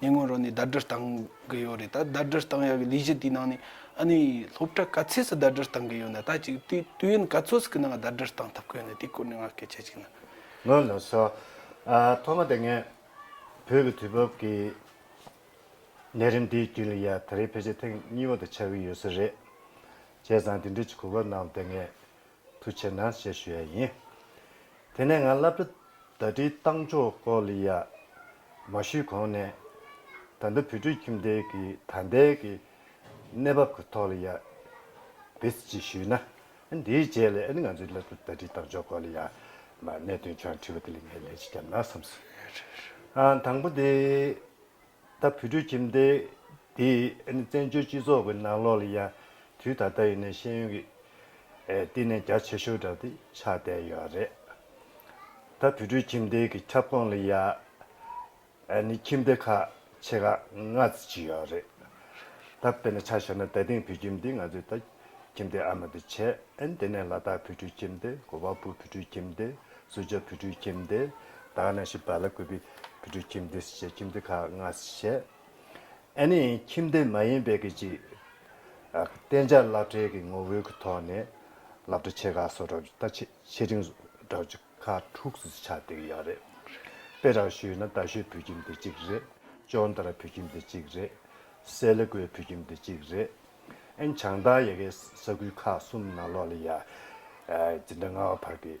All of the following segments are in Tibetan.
ཉེ་སྔོན་རོ་ནས་ཟླ་སྒྲིལ་བཏང་གི་ཡོད་རེད་ད་ཟླ་སྒྲིལ་བཏང་ཡག་གི་ལས་གཞི་དེའི་ནང་ནས་ཨ་ནི་སློབ་གྲྭ་ག་ཚད་སུ་ཟླ་སྒྲིལ་བཏང་གི་ཡོད་ན་ད་ཅིག་དུས་དུས་ཡུན་ག་ཚོད་ཀྱི་ནང་ཟླ་སྒྲིལ་བཏང་ཐུབ་ཀྱི་ཡོད་ན་དེའི་སྐོར་ནས་ང་སྐད་ཆ་གཅིག་ན། ངོས་ནས་སོ། ཐོག་མ་དེ་ངས་བོད་ཀྱི་དུས་བབ་ཀྱི་གནས་རིམ་དེའི་རྒྱུན་ལས་ཡ་ད་རེའི་ཕལ་ཆེར་ཐེངས་གཉིས་པ་དུ་ཆགས་ཀྱི་ཡོད་ས་རེད། བྱས་ཙང་དེ་འབྲེལ་གྱི་གོ་སྐབས་གནང་བ་དེ་ངས་དུ་བྱེད་ན་ཞེས་ཞུ་ཡ་ཡིན། དེ་ནས་ང་བླ་བྲེ་ཟླ་བྲེའི་བཏང་ཆོག་སྐོར་ལ་ཡ་མ་ཞུས་གོང་ནས་ད་ལྟ་བོད་ཕྲུག་ཁྱིམ་སྡེ་གི་ད་ལྟའི་གི་གནས་བབ་གི་ཐོག་ལ་ཡ་བེད་སྤྱི་ཞུས་ན་འདིའི་རྗེས་ལ་ང་ཚོའི་བླ་བྲེ་ཟླ་བྲེའི་བཏང་ཆོག་སྐོར་ལ་ཡ་མ་གནད་དོན་ཆུང་བ་དྲི་བ་དེ་ལ་ངས་ལན་ཞིག་བརྒྱབ་ན་བསམ་སོང། དང་པོ་དེ། ད་བུ་ཕྲུག་ཁྱིམ་སྡེ་འདིས་བཙན་བྱོལ་སྤྱི་ཚོགས་ཀྱི་ནང་ལོགས་ལ་ཡང་དུས་ད་ལྟ་ཡིན་ནའི་ཤེས་ཡོན་གྱི་བསྟི་གནས་རྒྱ་ཆེ་ཤོས་འདྲ་དེ་ཆགས་བསྡད་ཡོད་རེད། ད་བུ་ཕྲུག་ཁྱིམ་སྡེ་གྱི་ཁྱབ་ཁོངས་ལ་ཡང་ཁྱིམ་སྡེ་ཁག་ཆེ་ཁག་ལྔ་བཅུ་ཡོད་རེད། ད་དཔེར་ན་ཆ་ཤོར་ན་ད་དེང་བུ་ཁྱིམ་སྡེ་ང་ཚོས་ད། ཁྱིམ་སྡེ་ཨ་མ་དུ་ཆས་ཨན་དེ་ནས་ལ་དྭགས་བོད་ཕྲུག་ཁྱིམ་སྡེ་གོ་བ་པུ་བོད་ཕྲུག་ཁྱིམ་སྡེ་སུ་ཇཱ་བོད་ཕྲུག་ཁྱིམ་སྡེ་དྭགས་ན་ཤི་བ་ལ་ཀུ་བི་བོད་ཕྲུག་ཁྱིམ་སྡེ་སུ་ཇཱ་ཁྱིམ་སྡེ་ཁག་ལྔ་བཤད། ཨན་ནི་ཁྱིམ་སྡེ་མ་ཡིན་པའི་གི་ཅིག་གཏན་འཇགས་བླ་བྲེ་གི་ངོ་བོའི་གི་ཐོག་ནས་ལ་བྲེ་ཆེ་ཁག་སོ་དྲག་ད་ཆེ་ཆེ་རིང་དྲག་ཅུ་ཁ་དྲུག་སུ་ཆ་དེ་གི་ཡག་རེད་དཔེ་རག་ཞུས་ན་དཱ་ཤོད་བོད་ཁྱིམ་སྡེ་གཅིག་རེད་ཅོང་དར་བོད་ཁྱིམ་སྡེ་གཅིག་རེད་སེ་ལི་ཀོའི་བོད་ཁྱིམ་སྡེ་གཅིག་རེད། ཨན་བྱང་ཐང་ཡ་གའི་ས་ཁུལ་ཁག་གསུམ་ནང་ལོ་ལ་ཡ་གཅིག་འདྲ་ལྔ་བ་བར་གྱི་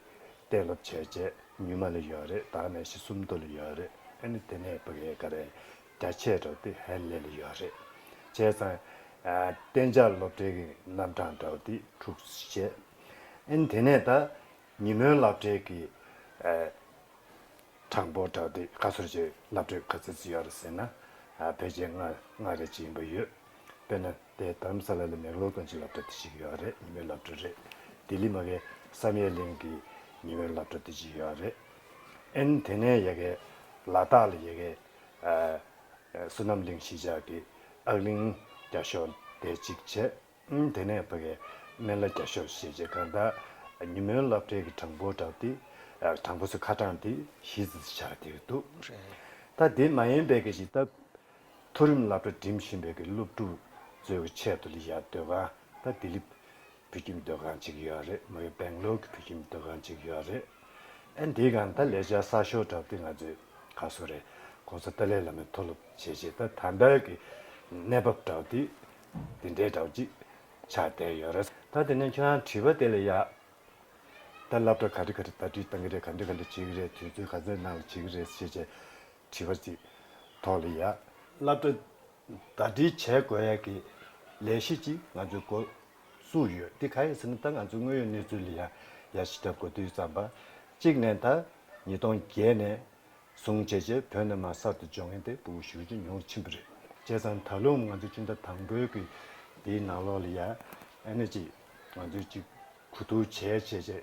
གཏན་སློབ་བྱས་རྗེས་ཉུལ་མ་ལ་ཡོད་རེད་དྭགས་ནས་ཤི་གསུམ་བསྡུ་ལ་ཡོད་རེད་ཨན་དེ་ནས་བུ་གའི་ག་རེ་རྒྱ་ཆེ་དྲག་ཏེ་ཧན་ལེ་ལ་ཡོད་རེད་བྱས་ཙང་གཏན་འཇགས་སློབ་གྲྭའི་གི་རྣམ་གྲངས་དྲག་ཏེ་དྲུག་བྱས་ཨན་དེ་ནས་ད་ཉིན་མོའི་སླབ་གྲྭའི་གི་གྲངས་འབོར་དྲག་ཏེ་ཁ་སོར་བྱས་སླབ་གྲྭའི་ག་ཚིག་ཡོད་རེད་ཟེར་ན་བེ་ཅལ་ལྔ་རེ་བཅས་ཡིན་པ་ཡོད། དཔེར་ན། དེ་དྷརྨ་སཱ་ལཱ་ལ་མེག་ལོར་དང་གཅིག་ལབ་གྲྭ་དེ་གཅིག་ཡོད་རེད་ཉི་མའི་ལབ་གྲྭ་རེད། ལྡི་ལི་མ་གའི་བསམ་ཡས་གླིང་གི་ཉི་མའི་ལབ་གྲྭ་དེ་གཅིག་ཡོད་རེད། ཨན་དེ་ནས་ཡ་གའི། ལ་དྭགས་ལ་ཡ་གའི། བསོད་ནམས་གླིང་གཞིས་ཆགས་ཀྱི་ཨག་གླིང་རྒྱ་ཤོག་དེ་གཅིག་བྱས། ཨན་དེ་ནས་བྷ་གའི་སྨན་བླ་རྒྱ་ཤོག་ཞེས་བྱས་གང་ལྟར། ཉི་མའི་ལབ་གྲྭའི་གི་དྲང་པོ་དྲང་དེ། དྲང་པོ་སོ་ཁ་དྲང་དེ་གཞིས་ཆགས་དེར་འདུག། ད་དེ་མ་ཡིན་པའི་གི་གཞིས་སྟབས། མཐོ་རིམ་བླ་སྤྲོ་འགྲིམ་བཞིན་པའི་གི་སློབ་ཕྲུག་ཚོའི་གི་ཆེད་དུ་ལི་ཡ་སྡོད་ཁང་དང་ལྡི་ལི་བོད་ཁྱིམ་སྡོད་ཁང་གཅིག་ཡོད་རེད་མོད་སྦེང་ལོར་གི་བོད་ཁྱིམ་སྡོད་ཁང་གཅིག་ཡོད་རེད་ཨ་འདི་གང་ད་ལས་བྱ་གསར་ཤོག་གྲབ་སྟེ་ང་ཚོའི་ག་སོ་རེད་ཁོང་ཚོ་ཏཱ་ལའི་བླ་མའི་མཐོ་སློབ་བྱས་རྗེས་ད་དམ་པའི་གི་གནས་བབ་གྲབ་སྟེ་འདི་འདྲའི་གྲབ་ཅིག་ཆགས་བསྡད་ཡོད་རེད། ད་དེ་ནས་ཁྱོད་རང་བྲིས་པ་དེ་ལས་ཡག། ད་བླ་སྤྲོ་ག་འདྲི་ག་འདྲི་ལྟ་བྲིས་གཏང་གི་རེད་ག་འདྲི་ག་འདྲི་བྱེད་ཀྱི་རེད་དུས་ཚོད་ག་ཚོད་ནང་ལ་བྱེད་ཀྱི་རེད་ཟེར་བྱས་རྗེས། བྲིས་པ་ཅིག་ཐོག་ལ་ཡ། བསླབ་གྲྭ་ཟླ་སྒྲིལ་བྱས་དགོས་ཡ་གི་ལས་གཞི་ཅིག་ང་ཚོའི་འགོ་བཙུགས་ཡོད་དེ་ག་ཡ་ཟེར་ན་ད་ང་ཚོའི་དངོས་ཡོད་གནས་ཚུལ་ལ་ཡ་ཡ་ཞིག་བརྒྱབ་དགོས་དུས་བརྩམས་པ་ཅིག་ནས་ད་ཉིས་སྟོང་བརྒྱད་ནས་བཟུང་བྱས་བྱས་བོད་ནང་མ་གསར་དུ་འབྱོར་མཁན་དེ་བུ་ཞུ་རྒྱུ་ཉུང་ཕྱིན་པ་རེད། བྱས་ཙང་ད་ལོའམ་ང་ཚོའི་སྤྱི་ཟླ་དང་པོའི་གི་དེའི་ནང་ལོགས་ལ་ཡ་ཨེ་ན་ཅིག་ང་ཚོའི་ཅིག་གུ་དུག་བྱས་བྱས་བྱས།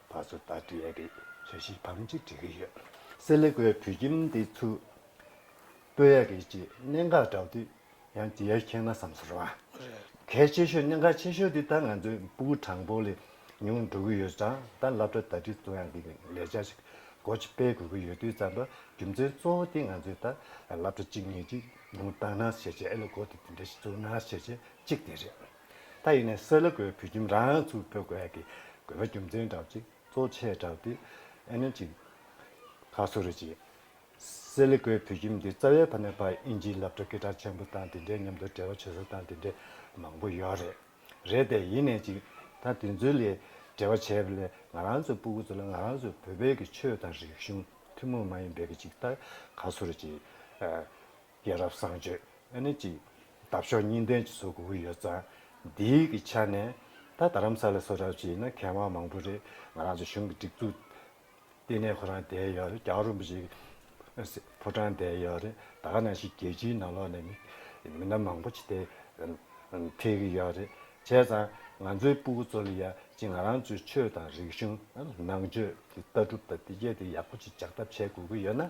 བ་ཚོ་ད་འདྲི་ཡས་རེད་ཟེར་བཞིན་བམ་གཅིག་འབྲི་གི་ཡོད། སེ་ལེ་ཀོའི་བུ་ཁྱིམ་དེ་ཚུར་སྤོས་ཡས་རེད་ཅེས་གནད་འགག་བསྒྲགས་དུས་ཡང་འདྲི་ཡས་ཁྱེད་ན་བསམ་ཚོར་བ་གལ་ཆེ་ཤོས་གནད་འགག་ཆེ་ཤོས་དེ་ད་ང་ཚོའི་སྤུ་གུ་དྲང་པོ་ལས་ཉུང་འགྲོ་གི་ཡོད་ཙང་ད་བླ་བྲ་ད་འདྲི་ཙུ་ཡང་གི་ལས་བྱ་ཞིག་སྒོ་ཕྱི་སྤེལ་དགོས་ཀྱི་ཡོད་དུས་ཙམ་པ་རྒྱུ་མཚན་གཙོ་བོ་དེ་ང་ཚོས་ད་བླ་བྲ་གཅིག་གཉིས་ཅིག་ཉུང་བཏང་ན་ཞེས་བྱས་ཨེ་ལེ་ཀོ་དེ་དེ་འདྲ་ཞིག་བཙུགས་ན་ཞེས་བྱས་གཅིག་དེ་རེད། ད་ཡིན་ནས་སེ་ལ་ཀོའི་བུ་ཁྱིམ་རང་ཡང་ཚུར་ཕེབས་དགོས་ཡ་གི་དགོས་པ་རྒྱུ་མཚན་བསྒྲགས་ཅིག་གཙོ་ཆེ་བསྒྲགས་ཏེ་ཨེ་ནོན་ཅིག་ཁ་སོ་རེ་བྱེད། སེ་ལ་ཀོའི་བུ་ཁྱིམ་འདི་རྩ་བའི་ཕ་ནས་བར་ཨིན་ཇིའི་ལབ་སྒྲ་སྐད་གྲགས་ཆེན་པོ་དང་དེ་འདྲའི་མཉམ་དུ་འབྲེལ་བ་བྱེད་ས་དང་དེ་འདྲའི་མང་པོ་ཡོད་རེད། རེད་དེ་ཡིན་ནས་ཅིག་ད་དེ་ཚོའི་ལས་འབྲེལ་བ་བྱས་པ་ལས་ང་རང་ཚོའི་སྤུ་གུ་ཚོ་ལ་ང་རང་ཚོའི་བོད་པའི་གི་ཆོས་དང་རིག་གཞུང་ཐུན་མོང་མ་ཡིན་པའི་གི་ཅིག་ད་ག་སོ་རེ་བྱེད། སྐྱེས་རབས་བསང་མཆོད་ཨ་ནེ་གཅིག། འདབ་གཤོག་གཉིས་ལྡན་གྱི་སོག་གུ་འུར་ཡོད་ཙང། འདི་གི་ཆ་ནས་ད་རྡ་རམ་ས་ལ་སོག་རབས་ཀྱི་ཡིན་ན་མཁས་དབང་མང་པོ་རེད་ང་རང་ཚོ་གཞུང་གི་སྒྲིག་འཛུགས་ལྟེ་གནས་ཁོ་རང་བསྡད་ཡོད་རེད་རྒྱ་རོམ་པོ་ཆེ་ཕོ་བྲང་བསྡད་ཡོད་རེད་ད་ནང་བཞིན་རྒྱལ་སྤྱིའི་ནང་ལོག་ནས་མི་སྣ་མང་པོ་ཆེ་དེ་འཐད་གི་ཡོད་རེད་བྱས་ཙང་ང་ཚོའི་སྤུ་གུ་ཚོ་ལ་ཡ་གཅིག་ང་རང་ཚོའི་ཆོས་དང་རིག་གཞུང་ནང་ཆོས་ཀྱི་ལྟ་གྲུབ་དང་བདེ་སྐྱིད་དེ་ཡག་པོ་ཅིག་འཇགས་ཐབས་བྱེད་དགོས་ཀྱི་ཡོད་ན་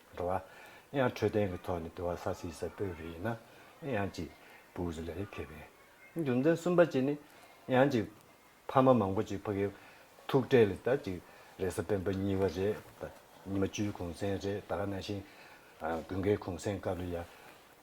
འགྲོ་བ། ཡང་འཕྲོད་བསྟེན་གྱི་ཐོག་ནས་དུ་བ་ས་སྲིད་ས་སྤོས་པའི་ཡིན་ན། ཡང་གཅིག། བུ་ཟི་ལ་རེ་ཕེབས་པའི། རྒྱུ་མཚན་གསུམ་པ་གཅིག་ནི། ཡང་གཅིག། ཕ་མ་མང་པོ་ཅིག་ཕ་གི། ཐུག་འཕྲད་ལ་ད་ཅིག། རེས་གཟའ་སྤེན་པ་གཉིས་བ་རེ། ཉི་མ་བཅུའི་གུང་སེང་རེ་ད་ག་ན་ཤིང། དགུན་ཁའི་གུང་སེང་སྐབས་ལ་ཡ།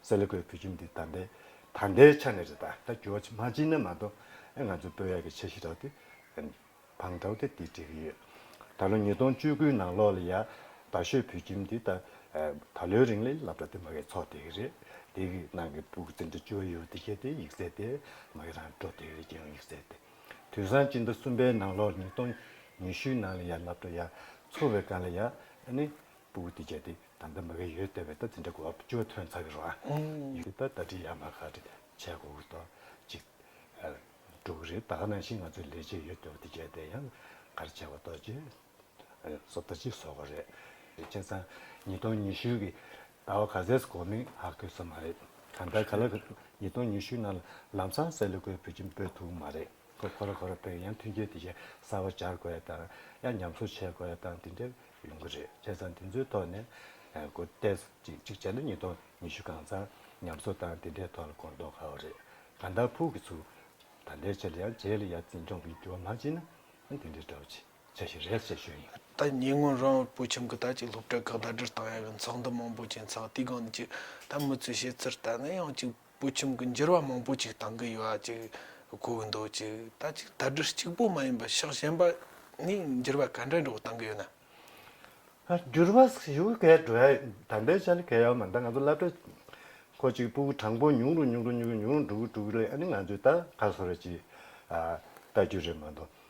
སེ་ལེ་ཀོའི་བུ་ཁྱིམ་འདི་དར་མདའི་དར་མདའི་ཆ་ནས་རེད་ད་ད་ཇོ་ཇི་མ་ཇི་ནས་མ་གཏོགས་ང་ཚོའི་དཔོན་ཡག་གི་ཆ་ཤི་རག་དེ་བང་ཁྲའོ་དེ་དེ་འགྲིག་གི་ཡོད་ད་ལོ་ཉིས་སྟོང་བཅུ་དགུའི་ནང་ལོག་ལ་ཡ་ད་ཤོད་བུ་ཁྱིམ་འདི་ད་ད་ལོའི་རིང་ལས་ལབ་དྲ་དེ་མ་གའི་ཚོགས་དེ་གི་རེད་དེ་གི་ནང་གི་བུ་གུ་ཙི་འདྲ་ཇོ་ཡོ་དེ་ཤེས་དེ་ཡིག་གསལ་དེ་མ་གི་རང་འགྲོ་དེ་གི་རེད་རྒྱལ་ཡོངས་ཡིག་གསལ་དེ་དུས་སང་སྤྱི་ཟླ་གསུམ་པའི་ནང་ལོག་ཉིས་སྟོང་ཉི་ཤུའི་ནང་ལ་ཡ་ལབ་དྲ་ཡ་འཚོ་བའི་སྒང་ལ་ཡ་ནི་སྤུ་གུ་དེ་བྱས་ཏེ་ད་ལྟ་མི་ག་ཡོད་བལྟ་བའི་ལྟ་ཚིག་འདྲ་གོ་བ་ཅུང་ཐོན་ཚར་གི་རོགས། འདི་ལྟར་ལྟ་འཁྲིད་ཡག་མ་ག་རེ་བྱས་དགོས་གི་རྡོ་གཅིག་འགྲོ་གི་རེད་ད་ག་ནང་བཞིན་ང་ཚོའི་ལས་བྱེད་ཡོད་བལྟ་བ་དེ་བྱས་ཏེ་ཡང་ག་རེ་བྱས་བ་རྡོ་གཅིག་བཟོ་རྡོ་གཅིག་བཟོ་གི་རེད། བྱས་ཙང་ཉིས་སྟོང་ཉི་ཤུ་གི་ཟླ་བ་ག་ཟས་སུ་གོ་མིན་ཧ་གོ་ས་མ་རེད་གང་ལྟར་ག་ལ་གི་ཉིས་སྟོང་ཉི་ཤུའི་ནང་ལ་ལམ་སང་གསལ་ལེ་གོའི་བོད་ཁྱིམ་སྤོས་ཐུབ་གི་མ་རེད་ཁོ་ཁོ་ར་ཁོ་ར་སྤོས་ཡང་མཐུན་རྐྱེན་དེ་བཞིན་གསར་བ་སྦྱར་དགོས་ཡ་དང་ཡ་ཉམས་གསོ་བྱས་དགོས་ཡ་དང་དེ་འདྲའི་ཡོང་གི་རེད་བྱས་ཙང་དེ་ཚོའི་ཐོག་ནས་སྒོ་ཏེས་ཅིག་གཅིག་བྱས་ན་ཉིས་སྟོང་ཉི་ཤུ་གང་ཙམ་ཉམས་གསོ་བཏང་དེ་འདྲའི་ཐོག་ལ་གོ་མདོག་ཁ་བོ་རེད་ག་འདའ་ཕུག་གི་ཚུལ་ད་འདྲའི་ཆེད་ལ་ཡང་རྗེས་ལ་ཡར་བརྩིས་འཇོག་གི་རྒྱུ་བ་མ་བྱེད་ན་ཡང་དེ་འདྲའི་དྲ་བ་ཆ་ཞིག་རེད་ཅེས་ཞུ་ཡི་ཡིན། ད་ཉེ་སྔོན་རང་བོད་ཕུལ་ཁྱིམ་གྱི་དར་གཅིག་སློབ་གྲྭའི་ཁག་ཟླ་སྒྲིལ་བཏང་ཡ་གི་འཚག་འདི་མང་པོ་བྱས་འཚག་དུས་གང་ནས་ཅིག་ད་མི་ཚོས་བཤད་ཚུལ་ལྟར་ན་ཡང་གཅིག་པོ་ཁྱིམ་གྱི་འགྱུར་བ་མང་པོ་ཅིག་དང་གི་ཡོ་བ་ཅིག་གོ་གི་འདུག་ཅིག་ད་ཅིག་ད་སྒྲིལ་གཅིག་པོ་མ་ཡིན་པར་ཕྱག་གཞན་པ་ནི་འགྱུར་བ་ག་འདྲའི་འགྲོ་བ་དང་གི་ཡོད་ན། འགྱུར་བ་ཞི་བོ་གས་འགྲོ་ཡ་དམ་པའི་ཆ་ལ་གས་ཡོ་མ་ད་ང་ཚོ་བླ་བྲེ་ཁོ་ཅིག་པུ་གུ་དྲང་པོ་ཉུང་རུ་ཉུང་རུ་ཉུང་རུ་ཉུང་རུ་འགྲོ་གི་འགྲོ་གི་རེད་ཨ་ནི་ང་ཚོས་ད་ག་སོ་ར་ཅིག་ལྟ་རྒྱུ་རེད་མ་གཏོགས།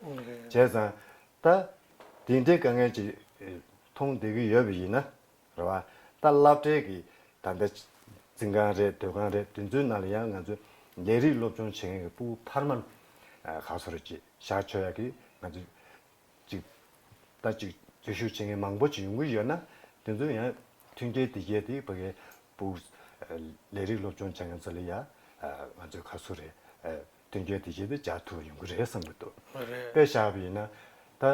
བྱས་ཙང། ད། དེ་འདྲའི་དཀའ་ངལ་ཅིག། མཐོང་བསྡད་ཀྱི་ཡོད་པ་ཡིན་ན། རེད་བ། ད་བསླབ་གྲྭའི་གི། ད་ལྟ། འཛིན་ཁང་རེད་སྡོད་ཁང་རེད་དེ་ཚོའི་ནང་ལ་ཡང་ང་ཚོ། ལས་རིགས་སློབ་སྦྱོང་བྱེད་མཁན་གྱི་སྤུ་བོ་འཕར་མ། ག་ཚོ་རེད་ཅེས་ཞག་ཆོད་ཡག་གིས་ང་ཚོ། ཅིག། ད་ཅིག་འཛུལ་ཞུགས་བྱེད་མཁན་མང་པོ་ཅིག་ཡོང་གི་ཡོད་ན། དེ་ཚོ་ཡང། མཐུན་རྐྱེན་དེ་རྒྱས་ཏེ་བོད་ཁའི། སྤུ། ལས་རིགས་སློབ་སྦྱོང་བྱེད་མཁན་ཚོ་ལ་ཡང། ང་ཚོའི་ག་ཚོ་རེད། དོན་གལ་ཏེ་ཞེས་པའི་སྦྱར་ཐུབ་ཡོང་གི་རེད་བསམ་གྱི་འདུག་དཔེ་བཞག་པ་ཡིན་ན། ད་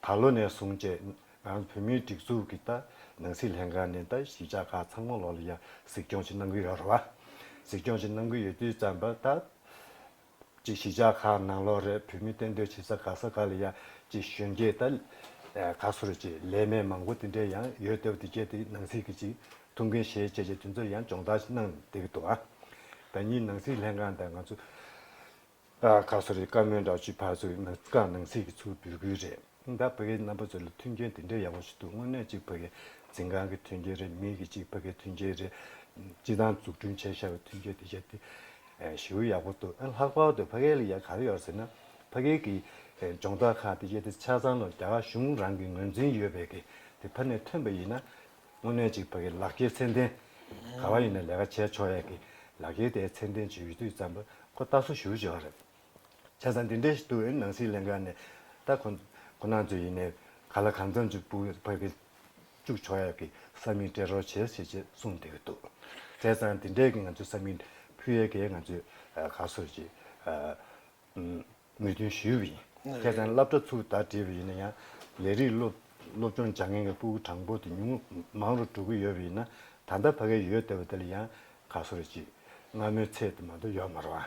ད་ལོ་ནས་བཟུང་བཅས་ང་ཚོ་བོད་མིའི་སྒྲིག་འཛུགས་ཀྱི་ད་ནང་སྲིད་ལྷན་ཁང་ནས་ད་ཞིབ་ཆ་ཁག་ཚང་མ་ལོག་ལ་ཡ་གཟིགས་སྐྱོང་བྱེད་གནང་གི་ཡོད་རེད་བ། གཟིགས་སྐྱོང་བྱེད་གནང་གི་ཡོད་དུས་ཙམ་པ་ད་ཅིག་ཞིབ་ཆ་ཁག་ནང་ལོག་རེད་བོད་མི་གཏན་སྡོད་བྱེད་ས་ག་ས་ག་ལ་ཡ་ཅིག་གཞོན་སྐྱེས་ད་ག་སུ་རེད་ཅེས་ལས་མེད་མང་པོ་དེ་འདྲས་ཡང་ཡོད་ལྟ་བུ་དེ་བཅས་དེ་ནང་སྲིད་ཀྱི་ཅིག་ཐུགས་འགན་བཞེས་བྱས་བྱས་དུས་ཚོད་ཡང་སྦྱོང་བརྡར་གནང་བསྡད་ཀྱི་འདུག་བ། ད་ཉིད་ནང་སྲིད་ལྷན་ཁང་དང་ང་ཚོ་ཁག་སོ་རེད་བཀའ་མོལ་འདྲ་བྱོས་ཕར་ཚུར་ནང་ཁག་ནང་སྲིད་ཀྱི་ཚུར་འབུད་དགོས་རེད་ད་བོད་ཁའི་རྣམ་པ་ཚོ་ལ་མཐུན་རྐྱེན་དེ་འདྲའི་ཡག་པོ་ཞིག་འདུག་དངོས་གནས་གཅིག་བོད་ཁའི་འཛིན་ཁང་གི་མཐུན་རྐྱེན་རེད་མིང་གི་གཅིག་བོད་ཁའི་མཐུན་རྐྱེན་རེད་སྤྱི་དང་འཛུགས་སྐྲུན་བྱས་ཤར་བའི་མཐུན་རྐྱེན་དེ་ཞེས་ཏེ་ཞེའུ་ཡག་པོ་འདུག་ལྷག་པར་དུ་བྷ་གའི་ལ་ཡ་ག་རེ་ཡོད་ཟེར་ན་བྷ་གའི་གི་སྦྱོང་བརྡར་ཁང་དེ་ཞེས་ཏེ་ཆ་ཚང་ལ་རྒྱ་གར་གཞུང་རང་གི་ངོས་འཛིན་ཡོད་པའི་གི་དེ་བྷ་ནས་ཐོན་པ་ཡིན་ན་དངོས་གནས་གཅིག་བག་གི་ལག་འཁྱེར་ཚད་ལྡན། ག་བ་ཡིན་ན་ལས་ཀ་བྱས་ཆོག་ཡག་གི་ལག་འཁྱེར་དེ་ཚད་ལྡན་གྱི་ཡུལ་དུས་ཙམ་པོ་ཁོ་རྟ་སོ་ཞུ་བྱས་བ་རེད། བྱས་ཙང་འདི་འདྲའི་དུས་ནང་སྲིད་གླེང་ག་ནས་རྟ་ཁོ་ཁོ་ནང་ཚོས་ཡིན་ནའི་ག་ལ་གང་ཙམ་གྱི་བུ་བག་གི་བཅུག་ཆོག་ཡག་གི་ས་མིག་སྤྲད་རོགས་བྱས་ཞེས་ཅེས་གསུངས་བསྡད་ཀྱི་འདུག་བྱས་ཙང་འདི་འདྲས་ཀྱི་ང་ཚོས་ས་མིག་ཕུལ་ཡག་གི་ང་ཚོས་ག་སོ་ཞིག་མོས་མཐུན་ཞུས་པ་ཡིན། ཁྱེད་ཚང་སླབ་གྲྭ་ཚུགས་ད་བྲིས་པ་ཡིན་ན་ཡང་ལས་རིགས་སློབ་སློབ་སྦྱོང་སྦྱང་མཁན་གྱི་སྤུ་གུ་དྲང་པོ་དེ་ཉུང་མང་རུ་གྲུག་གི་ཡོད་པ་ཡིན་ན་ད་ལྟ་ཕ་གའི་ཡོད་བསྡད་པ་དེ་ལ་ཡང་ག་སོ་རེ་གཅིག་སྔ་མོའི་ཚད་དེ་མ་གཏོགས་ཡོད་མ་རུང་ཨ།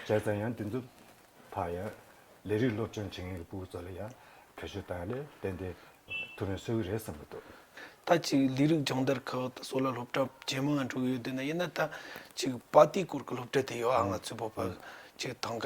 ཁྱེད་ཚང་ཡང་འདི་ཚོ་ཕར་ཡང་ལས་རིགས་སློབ་སྦྱོང་བྱེད་མཁན་གྱི་སྤུ་གུ་ཚོ་ལ་ཡང་བེད་སྤྱོད་བཏང་ནས་ཏན་ཏན་ཐུབ་མེད་བསོད་གི་རེད་བསམ་གི་འདུག། ད་ཅིག་ལས་རིགས་སྦྱང་བརྡར་ཁག་ད་སོ་ལ་སློབ་གྲྭ་ཇེ་མང་ང་འགྲོ་གི་ཡོད་བསྡད་ན་ཡིན་ན་ད་ཅིག་པ་ཏི་སྐོར་གྱི་སློབ་གྲྭ་དེ་ཡོད་ཨ་ང་ཚོའི་བོད་པ་ཅིག་ཐང་ག་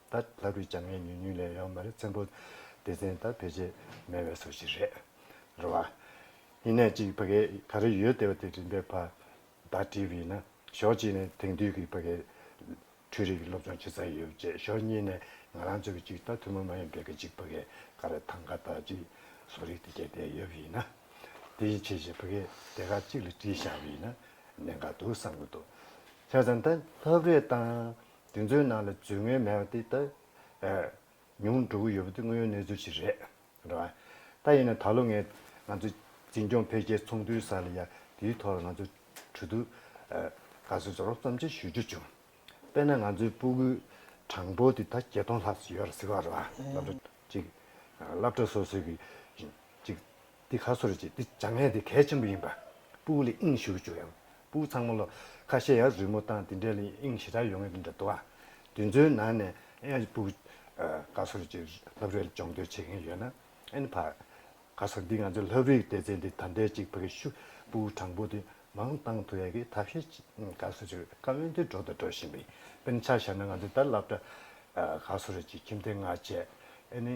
ད་ལྟ་བུའི་བྱམས་ངན་ཉུང་ཉུང་ལས་ཡོང་མ་རེད་བཙན་པོ། སྡེ་ཚན་དང་བེད་སྤྱད་མེད་བའི་སོ་ཞིག་རེད། རེད་བ། ཡིན་ནས་གཅིག་ཕ་གས་ག་རེ་ཡོད་བལྟས་བ་དེ་རིམ་པས་ཕ། བདག་བྲིས་བས་ན་ཞོག་གཅིག་ནས་དེང་དུས་ཀྱི་ཕ་གས། འཕྲུལ་རིག་གི་སློབ་སྦྱོང་ཇི་ཙམ་ཡོད་བཅས་ཞོག་གཉིས་ནས་ང་རང་ཚོ་གི་གཅིག་ད་ཐུན་མོང་མ་ཡིན་པའི་གི་གཅིག་ཕ་གས་ག་རེ་ཐང་ག་དག་གཅིག་བཟོ་རིག་དེ་བཅས་བལྟས་ཡོད་བས་ན། དེ་ཡི་ཆེ་བཞིན་ཕ་གས་དེ་ག་གཅིག་ལ་བྲིས་བཞག་བས་ན་གནད་འགག་འདུག་བསམ་གྱི་འདུག་ཁྱེད་རང་ད་ལྷབ་རེ་བཏང། དེ་ཚོའི་ནང་ལ་རྫུན་དངོས་མེད་པ་དེ་ད་ཉུང་འགྲོ་གི་ཡོད་པ་དེ་དངོས་ཡོད་གནས་ཚུལ་ཞིག་རེད། རེད་བ། ད་ཡིན་ན་ད་ལོ་ངས་ང་ཚོ་འཛིན་སྐྱོང་འཕེལ་རྒྱས་ཚོགས་འདུའི་ས་ལ་ཡ་དེའི་ཐོག་ལ་ང་ཚོ་གྲོས་བསྡུར་དགའ་བསུ་ཚོར་བསམ་ཕྱིར་ཞུ་རྒྱུ་བྱུང། དཔེར་ན་ང་ཚོའི་སྤུ་གུའི་གྲངས་འབོར་དེ་ད་བརྒྱད་སྟོང་ལྷག་ཟིག་ཡོད་རེད་ཟེར་བ་རེད་བ། ཅིག། བསླབ་གྲྭ་སོ་སོའི་གི་ཅིག། འདི་ག་སོར་གཅིག་འདི་བྱ་ངན་འདི་གལ་ཆེན་པོ་ཡིན་པ། སྤུའུ་ལི་དབྱིངས་ཞུ་བཅུག་ཡང་སྤུའུ་ཚང་མ་ལོ། ཁ་ཤས་ཡང་རི་མོ་བཏང་འདི་འདྲའི་ལི་དབྱིངས་ཞེ་དྲག་ཡོང་ངེས་འདི་འདྲ་འདུག་ཨ། དུས་ཚོད་ནང་ནས་ཨེ་སྤུའུ། ག་སོར་གཅིག་ལྷབ་རིར་སྦྱོང་འདོད་བྱེད་མཁན་ཡོད་ན་ཨེ་ཕར། ག་སོར་འདི་ང་ཚོའི་ལྷབ་རིའི་ལྟེ་ཚད་འདི་ད་ལྟའི་གཅིག་བོད་ཀྱི་ཤུ་སྤུའུ་དྲང་པོ་འདི་མང་བཏང་ཐུབ་ཡག་གི་ཐབས་ཤེས་གཅིག་ག་སོར་གཅིག་རེད་ཀ་འོན་ཏེ་འགྲོ་དང་འགྲོ་བཞིན་པའི་དཔེར་ཆ་བཞག་ན་ང་ཚོའི་ད་ལྷབ་གྲ། ག་སོར་གཅིག་ཁྱིམ་སྡེ་ལྔ་བཅས་ཨེ་ནི།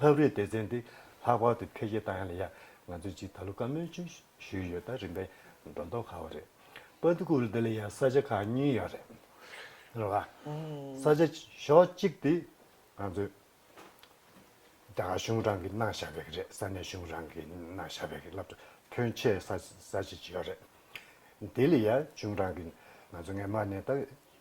ལྷབ་རིས་སྡེ་ཚན་འདི་ལྷག་པར་དུ་འཕེལ་རྒྱས་བཏང་ཡང་ལ་ཡང་ང་ཚོས་ཅིག་ད་ལོ་བཀའ་མོལ་ཅུང་ཞུས་ཡོད་ད་རིམ་པས་སྒྲོ་འདོགས་ག་བ་རེད་པ་འདུག་གུ་རུ་འདི་ལ་ཡང་ས་ཆ་ཁག་གཉིས་ཡོད་རེད་བ། ས་ཆ་ཞོག་གཅིག་དེ་ང་ཚོས་རྒྱ་གར་གཞུང་རང་གིས་གནང་བཞག་པའི་གི་རེད་ས་གནས་གཞུང་རང་གིས་གནང་བཞག་པའི་གི་རླབས་ཆ་ཕོན་ཆེ་ས་ཆ་ཅིག་ཡོད་རེད་དེ་ལ་ཡང་གཞུང་རང་གིས་ང་ཚོ་ངས་མ་ནས་ད།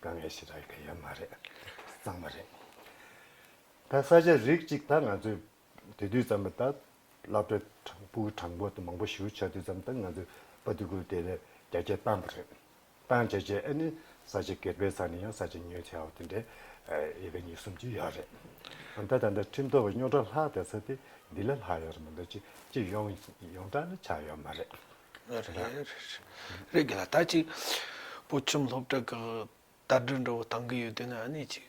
དཀའ་ངལ་ཞིག་རག་གི་ཡོད་མ་རེད་བསམ་པ་རེད། ད་ས་ཆ་རིགས་གཅིག་ད་ང་ཚོས་དེ་དུས་ཙམ་ལ་ད་བླ་སྤྲུལ་དྲང་པོའི་དྲང་པོ་དེ་མང་པོ་ཞུ་བྱ་དུས་ཙམ་ད་ང་ཚོས་པ་ཏི་ཀུ་དེ་ལས་རྒྱ་སྐྱེད་བཏང་པ་རེད། བཏང་བྱས་བྱས་ཨེ་ནི་ས་ཆ་གེར་པའི་ས་ནས་ཡང་ས་ཆ་ཉོས་བྱས་བ་དེ་འདྲའི་ཡོད་པའི་ཉིས་གསུམ་ཅིག་ཡོད་རེད། ད་ད་ལྟ་ཁྲིམས་ཐོག་བའི་རྙོག་དྲ་ལྷག་དེ་ས་དེ་འདི་ལས་ལྷག་ཡོད་རེད་མི་འདུག་ཅི་ཡོང་ཡོང་གྲ་ལ་ཆགས་ཡོད་མ་རེད། རེད་གི་ལ་ད་ཅིག་བུ་ཁྱིམ་སློབ་གྲྭ་གི་དར་སྒྲིག་འགྲོ་བ་དང་གི་ཡོད་དེ་ན་ཨ་ནི་ཅིག་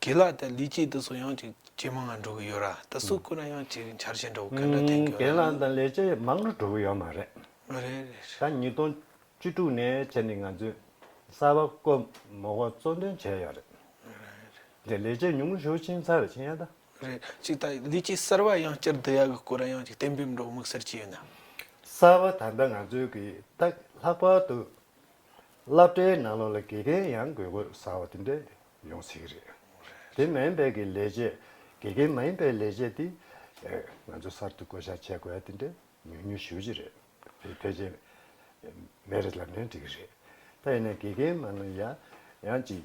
གི་ལ་དེ་ལི་ཅིག་དེ་སུ་ཡང་ཅིག་ཇེ་མང་ང་འགྲོ་གི་ཡོད་ར་དེ་སུ་སྐུ་ན་ཡང་ཅིག་འཆར་ཞེན་འགྲོ་གི་ག་འདྲ་ཐེང་གི་ཡོད་ར། གི་ལ་དང་ལས་ཇེ་མང་ང་འགྲོ་གི་ཡོད་མ་རེད། རེད་རེད། ད་ཉིས་སྟོང་བཅུ་དྲུག་ནས་བྱས་ནི་ང་ཚོས་གསར་བ་ཀོ་མོ་ཀོ་གཙོ་འདོན་བྱས་ཡོད་རེད། རེད་རེད། དེ་ལས་ཇེ་ཉུང་ཞུ་ཕྱིན་ཚར་ཕྱིན་ཡ་ད། རེད། ཅིག་ད་འདི་ཅིག་གསར་བ་ཡང་བསྐྱར་བསྡུ་ཡག་གི་སྐོར་ར་ཡང་ཅིག་གཏན་འབེབས་འགྲོ་དམིགས་བསལ་ཅི་ཡོད་ན། གསར་བ་ད་ལྟ་ང་ཚོའི་གི་ཏག་ལྷག་པར་དུ་སླབ་གྲྭའི་ནང་ལོག་ལ་དགེ་རྒན་ཡང་དགོས་དགོས་ཟ་བ་དེ་འདྲས་ཡོང་སྲིད་གི་རེད། དེ་མ་ཡིན་པའི་གི་ལས་བྱེད་དགེ་རྒན་མ་ཡིན་པའི་ལས་བྱེད་དེ་ང་ཚོ་གསར་དུ་བསྐོ་བཞག་བྱས་དགོས་ཡ་དེ་འདྲས་ཉུང་ཉུང་ཞུ་གི་རེད། དེ་ཕལ་ཆེར་མེ་རི་ལབ་ན་འགྲིག་གི་རེད། ད་ཡིན་ན་དགེ་རྒན་མ་ནུ་ཡ་ཡང་ཅིག་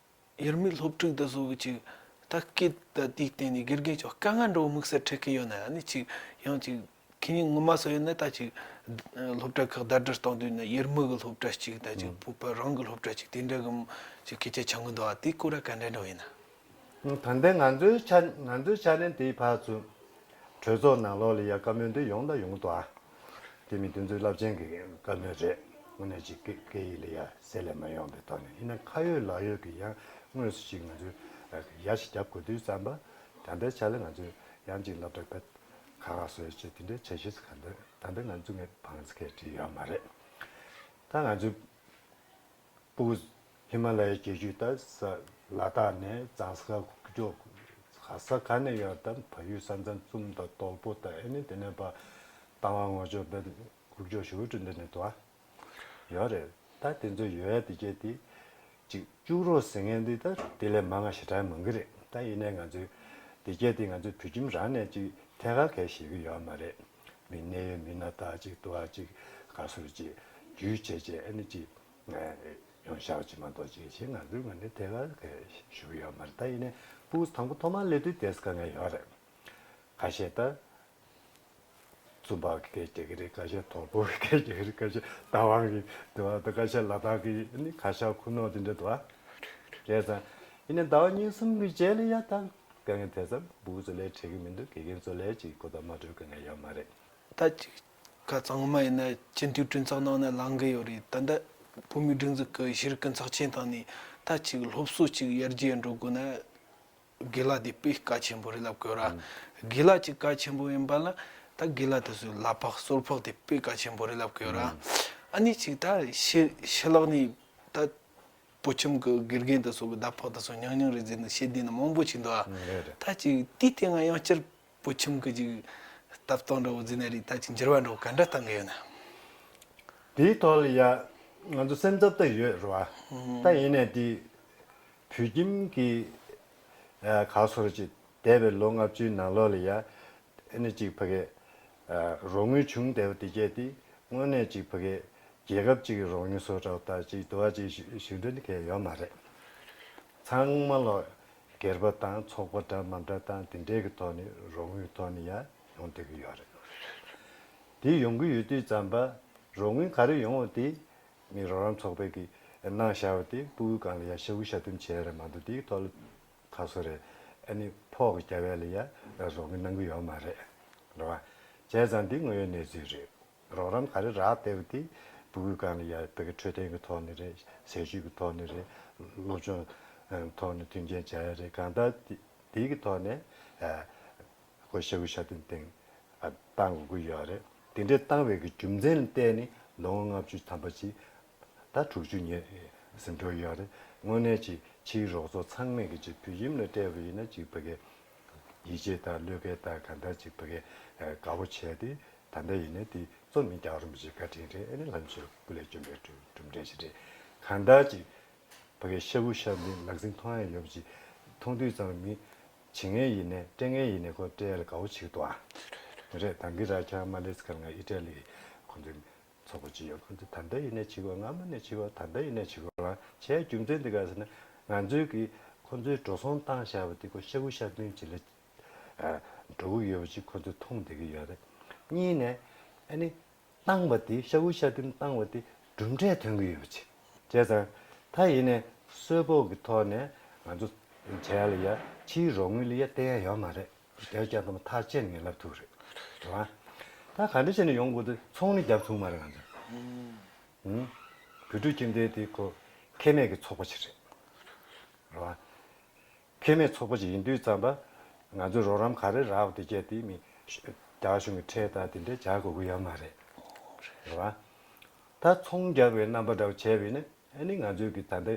ཡུལ་མིའི་སློབ་ཕྲུག་འདི་བཟོ་གི་ཅིག་ད་སྐད་ད་དེའི་སྟེང་ནས་དགེ་རྒན་ཅོག་དཀའ་ངལ་འགྲོ་དམིགས་བསལ་འཕྲད་ཀི་ཡོད་ན་ནི་ཅིག་ཡང་ཅིག་ཁྱེད་ཉིད་ངོ་མ་སོ་ཡོད་ན་ད་ཅིག་སློབ་གྲྭ་ཁག་ཟླ་སྒྲིལ་གཏོང་དུས་ནི་ཡུལ་མི་གི་སློབ་གྲྭ་ཅིག་ད་ཅིག་བོད་པ་རང་གི་སློབ་གྲྭ་ཅིག་དེ་འདྲ་གི་ཅིག་སྐད་ཆ་ཆག་གི་འདུག་ཨ་དེ་སྐོར་ལ་ག་འདྲ་འགྲོ་ཡིན་ན། དང་ལྡན་ང་ཚོའི་ཆ་ང་ཚོའི་ཆ་ནས་དེའི་བར་ཚུན། གྲོས་ཚོགས་ནང་ལོགས་ལ་ཡ་དཀའ་མོ་འདི་ཡོང་ད་ཡོང་གི་འདུག་ཨ། དེ་མིན་དུས་ཚོད་རླབས་ཆེན་གྱི་སྐབས་ནི་རེད། དངོས་གནས་ཅིག་སྐད་ཡིག་ལས་ཡ་གསལ་ལས་མ་ཡོང་པའི་ཐོག་ནས་ཡིན་ན་ཁ་ཡོད་ལག་ཡོད་ཀྱི་ཡང་དངོས་སུ་ཞིག་ང་ཚོས་ཡ་ཞིག་རྒྱབ་དགོས་དུས་བསམ་པ། དམ་པའི་ཆ་ལ་ང་ཚོས་ཡང་ཅིག་བསླབ་གྲྭ་ག་ག་ག་སོས་ཅེས་དེ་འདྲའི་ཆ་ཤས་སུ་ག་འདོད་དམ་པས་ང་ཚོ་ངའི་བང་ཚ་ཁས་བྲིས་ཡོད་མ་རེད། ད་ང་ཚོས། པུས། ཧི་མ་ལ་ཡའི་བྱེ་བཅུད་དང་ས། ལ་དྭགས་ནས་བརྫངས་ས་ཀྱོག། ཧ་ས་ག་ནས་ཡོད་དམ་བལ་ཡུལ་ས་མཚམས་གཙུམ་དང་སྟོག་པོ་དང་ཨེ་ནི་དེ་ནས་བར། དང་བ་ངོ་ཅོག་བལ། ཀུག་ཀྱོག་ཞུ་ཀྲུ་འདི་ནས་དུ་བ། ཡོག་རེད་ད་དེ་ཚོའི་ཡོ་ཡ་དེ་སྐྱེ་དེ། ཅིག་བཅུག་རོགས་ཟེར་ངན་འདི་ད་དེ་ལས་མ་ང་ཞེ་དྲག་མང་གི་རེད་ད་ཡིན་ནའི་ང་ཚོའི། དེ་སྐྱེ་དེ་ང་ཚོའི་བུ་ཁྱིམ་རང་ནས་ཅིག་ཐད་ཀ་གས་ཞེ་གི་ཡོག་མ་རེད། མི་གནས་ཡོད་མི་སྣ་དག་ཅིག་ཏུ་ཨ་ཅིག་ག་ཟུར་ཅིག་རྒྱུད་ཆད་ཆད་ཨེ་ན་ཅིག། ཡོང་ཤག་ཅིག་མ་གཏོགས་ཅིག་ཞེས་ང་ཚོའི་ངོས་ནས་དེ་གར་ཞུ་གི་ཡོད་མ་རེད་ད་ཡིན་ནས་པུའུ་དང་པོ་ཐོག་མར་སླེབས་དུས་དེས་དཀའ་ངལ་ཡོད་རེད། ཁ་ཤས་ད་རྩོམ་པ་གི་སྐད་རྒྱག་གི་རེད་ཁ་ཤས་དོག་པོ་གི་སྐད་རྒྱག་གི་རེད་ཁ་ཤས་བདག་དབང་གི་དུ་བ་དང་ཁ་ཤས་ལ་དྭགས་ཀྱི་ཁ་ཤག་ཁུ་ནོག་དེ་འདྲ་དུ་བ་རེད་ད། ཡིན་ནས་ཟླ་བ་གཉིས་གསུམ་གྱི་རྗེས་ལ་ཡ་ད། དཀའ་ངལ་དེ་ཙམ་སྦུག་བཙོ་ལས་འཕྲད་གི་མི་འདུག་དགེ་རྒན་བཙོ་ལས་ཀྱི་གོ་བརྡ་མ་སྤྲོད་དཀའ་ངལ་ཡོད་མ་རེད། ད་ཅིག་ཁ་གཙང་མ་ཡིན་ན་སྤྱི་འཐུས་བཀྲིན་ཚོགས་ནང་ནས་ལང་གི་ཡོད་རེད་ད་ལྟ་བོད་མི་སྒྲིག་འཛུགས་ཀྱི་གཞིར་དཀོན་ཚགས་ཆེན་དང་ནི་ད་ཅིག་སློབ་གསོ་གཅིག་ཡར་རྒྱས་འགྲོ་དགོས་ན་དགེ་ལགས་འདི་དཔེ་ཀ་ཆེན་པོ་རེད་ལབ་དགོས་ར། དགེ་ལགས་ཀྱི་ཀ་ཆེན་པོ་ཡིན་པ་ལ་ད་དགེ་ལགས་དེ་ཚོའི་ལག་ཕག་སོར་ཕག་དེ་དཔེ་ཀ་ཆེན་པོ་རེད་ལབ་དགོས་ར། ཨ་ནི་ཅིག་ད་ཤི་ལགས་ནི་ད་སྤུ་ཁྱིམ་གྱི་དགེ་རྒན་དང་སོགས་ཀྱི་ཟླ་ཕོགས་དང་སོགས་ཉག་ཉག་རེ་བཟོས་ནས་ཤེས་ལྡན་ནི་མང་པོ་ཞིག་འདུག་ཨ། ད་ཅིག་དུས་དེ་སྔ་ཡང་སྤྱིར་སྤུ་ཁྱིམ་གྱི་ཅིག་སྟབས་སྟངས་འདྲ་བོ་བཟོས་ནས་རིགས་ད་ཅིག་འགྱུར་བ་འདྲ་བོ་ག་འདྲ་བཏང་གི་ཡོད་ནམ། དེའི་ཐོག་ལ་ཡང་ང་ཚོ་སེམས་འཚབ་ཏུ་ཡོད་རེད་བ། ད་ཡིན་ནའི་དུས། བོད་ཁྱིམ་གྱི་ག་སོར་ཅིག་འདས་པའི་ལོ་ལྔ་བཅུའི་ནང་ལོགས་ལ་ཡང། ཨེ་ནི་གཅིག་ཕ་གས། རོགས་དངུལ་ཆུང་དལ་བུ་དེ་སྐྱེད་དེ། དངོས་གནས་གཅིག་ཕ་གས། རྒྱལ་ཁབ་གཅིག་གི་རོགས་དངུལ་བཟོ་གྲྭ་བ་ལྟར་གཅིག་བསྡུ་བ་གཅིག་ཞུ་འདོད་མཁན་ཡོད་མ་རེད། ཚང་མ་ལོ་སྒེར་པ་དང་ཚོགས་པ་འདྲ་མ་འདྲ་དང་དེ་འདྲའི་གི་ཐོག་ནས་རོགས་དངུལ་ཐོག་ནས་ཡང་ཡོང་སྡོད་ཀྱི་ཡོད་རེད། དེ་ཡོང་གི་ཡོད་དུས་ཙམ་པ། རོགས་དངུལ་ག་རེ་ཡོང་བ་དེ། མི་རོགས་རམ་ཚོགས་པའི་གི་ནང་བཞག་པ་དེ་པུའུ་གང་ལ་ཡང་ཞུ་གི་ཞབས་འདེམས་བྱས་ཡོད་རེད་མ་འདུག་དེའི་ཐོག་ལ་ཁ་སོ་རེད་ཨ་ནི་ཕོག་གི་སྐྱ་བྷེ་ལ་ཡ་རོགས་གི་གནང་གི་ཡོག་མ་རེད་རོགས་ཨ་བྱས་ཙང་འདི་དངོས་ཡོད་གནས་ཚུལ་རེད་རོགས་རམ་ག་རེ་རག་བལྟས་པ་དེ་བུ་གུས་གང་ལ་ཡ་བལྟ་གི་འཕྲོད་བསྟེན་གི་ཐོག་ནས་རེད་ཟས་བཞུད་གི་ཐོག་ནས་རེད་སློབ་སྦྱོང་ཐོག་ནས་མཐུན་རྐྱེན་བྱ་ཡ་རེད་གང་ལྟར་དེ་གི་ཐོག་ནས་ཁོ་ཤ་བུ་ཤ་སྟོན་སྟེང་བཏང་དགོས་ཀི་ཡོག་རེད་དེ་འདྲས་བཏང་བའི་གི་རྒྱུ་མཚན་ལ་བལྟས་ནི་ལོ་ངོ་ལྔ་བཅུ་ཐམ་པ་ཅིག་ཟླ་དྲུག་ཅུ་ཉེ་ཟིན་འགྲོ་ཡི་ཡང་རེད། དངོས་གནས་གཅིག་ཕྱིའི་རོགས་ཚོགས་ཚང་མས་ཀྱི་ཅིག་བོད་ཡིམ་ལ་སྤྲད་པ་ཡིན་ན་ཅིག་བོད་སྐད། ཡིད་ཆེས་དང་བློས་འགེལ་དང་གང་ལྟར་ཅིག་བོད་སྐད་དགའ་བོ་བྱས་ཏེ་ད་ལྟ་ཡིན་ན་དེ་གཙོ་མིན་རྒྱག་རུང་བྱེད་བཀའ་དྲིན་རེད་ཨེ་ནི་ལྷ་མཆོད་སྐུ་ལས་བྱོན་པའི་གྲུབ་འབྲས་ཞིག་རེད། གང་ལྟར་ཅིག་བོད་སྐད་ཤ་བུ་ཤ་འདི་ལག་ཟིན་མཐོང་ཡ་ཡོད་པ་ཅིག་མཐོང་དུས་ཙང་མི། བྱེད་ངན་ཡིན་ནས་སྤྲད་ངན་ཡིན་ནས་ཁོ་སྤྲད་ལ་དགའ་བོ་བྱེད་དུའང་རེད་དང་གི་ར་ཁྱང་མ་ལེས་ཀར་ང་ཨི་ཏྲ་ལི་ཁོང་ཚོའི། ཚོགས་པ་ཅི་ཡོད་ཁོ་ཚོས་དམ་པའི་ཡུལ་ནས་འཆི་བ་སྔ་མོ་ནས་འཆི་བ་དམ་པའི་ཡུལ་ནས་འཆི་བ་ལ་བྱའི་རྒྱུ་མཚན་དེ་ག་ཟེར་ན། ང་ཚོའི་གིས་ཁོ་ཚོའི་འགྲོ་སོང་བཏང་བཞག་པ་དེ་ཁོ་ཤ་བུ་ཤ་བདུན་གྱི་ལ་འགྲོ་གི་ཡོད་པ་ཅིག་ཁོ་ཚོས་མཐོང་བསྡད་ཀྱི་ཡོད་རེད། གཉིས་ནས། ཨ་ནི། བཏང་བ་དེ་ཤ་བུ་ཤ་བདུན་བཏང་བ་དེ་གྲུབ་འབྲས་ཐོན་གྱི་ཡོད་པ་ཅིག་བྱས་ཙང། ད་ཡིན་ནས་གསོལ་ཕོགས་ཀྱི་ཐོག་ནས་ང་ཚོ་བྱས་ལ་ཡ་ཕྱིའི་རོགས་དངུལ་ལ་ཡ་བསྟེན་ཡ་ཡོད་མ་རེད། བསྡད་རྒྱ་དང་མཐའ་བཅད་ནས་ལབ་ཐུབ་རེད་རེད་བ། ད་ག་འདྲ་བྱས་ནས་ཡོང་དགོས་དུས་ཚོང་ནི་རྒྱབ་ཚུགས་མ་རེད་ང་ཚོས། ཧུམ། བོད་ཕྲུག་ཁྱིམ་སྡེ་དེ་ཁོ་ཁེ་མེད་ཀྱི་ཚོགས་པ་ཞིག་རེད་རེད་བ། ཁེ་མེད་ཚོགས་པ་ཞིག་ཡིན་དུས་ཙམ་པ། ང་ཚོས་རོགས་རམ་ག་རེ་རག་དེ་བྱས་དེ་མིན། རྒྱ་གཞུང་གི་ཁྲལ་དང་དེ་འདྲས་བྱ་དགོས་ཀྱི་ཡོད་མ་རེད་རེད་བ། ད་ཚོང་རྒྱག་པའི་རྣམ་པ་འདྲ་བོ་བྱས་པས་ནི་ཨ་ནི་ང་ཚོས་ཀྱི་ད་ལྟའི།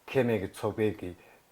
ཁེ་མེད་ཀྱི་ཚོགས་པའི་ཀྱི་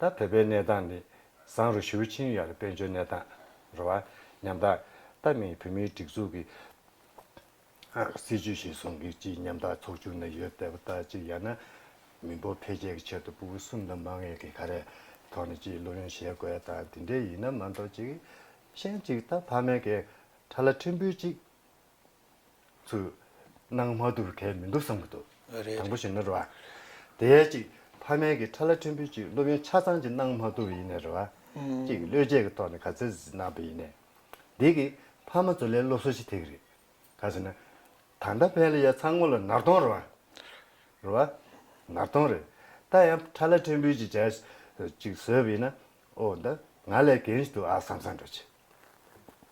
ད་བོད་པའི་གནས་སྟངས་ནི། བཟང་རུ་ཞུ་ཕྱིན་ཡོད་ལ་དཔལ་འབྱོར་གནས་སྟངས། རེ་བ། ཉམ་ཐག། ད་མིན་བོད་མིའི་སྒྲིག་འཛུགས་ཀྱི། སྲིད་ཇུས་ཤིག་བཟུང་གི་ཅི་ཉམ་ཐག་ཚོགས་ཆུང་ནས་ཡོད་བསྡད་པ་ལྟར་ཅིག་ཡང་ན། མི་འབོར་འཕེལ་རྒྱས་ཀྱི་ཆེད་དུ་སྤུ་བོ་གསུམ་དང་མ་ངེས་ཀྱི་ག་རེ། ཐོག་ནས་ཅིག་སློབ་ཡོན་བཞེས་དགོས་དང་དེ་འདྲའི་ཡིན་ན་མ་འདོག་ཅིག། གཞན་ཅིག་ད་ཕ་མེས་ཀྱི། ཁྲ་ལ་ཁྲིམས་འབུལ་ཅིག། ཚུལ། སྣང་མ་དུར་ཁྲལ་མི་འདུག་བསམ་གྱི་འདུག། དང་པོ་བཞིན་ནོ་རེ་བ། དེའི་གཅིག། ཕ་མེས་ཀྱི་ཁྲ་ལ་ཕྲན་བུའི་གཅིག་སློབ་ཡོན་ཆ་ཚང་གཅིག་སྣང་མ་དུར་ཡིན་ནས་རེ་བ། གཅིག་བློས་བྱས་ཀྱི་ཐོག་ནས་ག་ཚད་ཟིན་གནང་བ་ཡིན་ནས། འདི་གི། ཕ་མ་ཚོ་ལས་སློབ་གསོ་ཞིག་ཐེག་གི་རེད། ག་ཟེར་ན། ད་ལྟ་ཕན་ལ་ཡ་ཚ་སྔོ་ལ་ནར་གཏོང་རེ་བ། རེ་བ། ནར་གཏོང་རེད། ད་ཡང་ཁྲ་ལ་ཕྲན་བུའི་གཅིག་བྱས། གཅིག་བཟོས་པ་ཡིན་ན། ཨོ་ད། ང་ལས་གན་ཞིག་འདུག་ཨ་བསམ་བསམ་འགྲོ་ཆེ།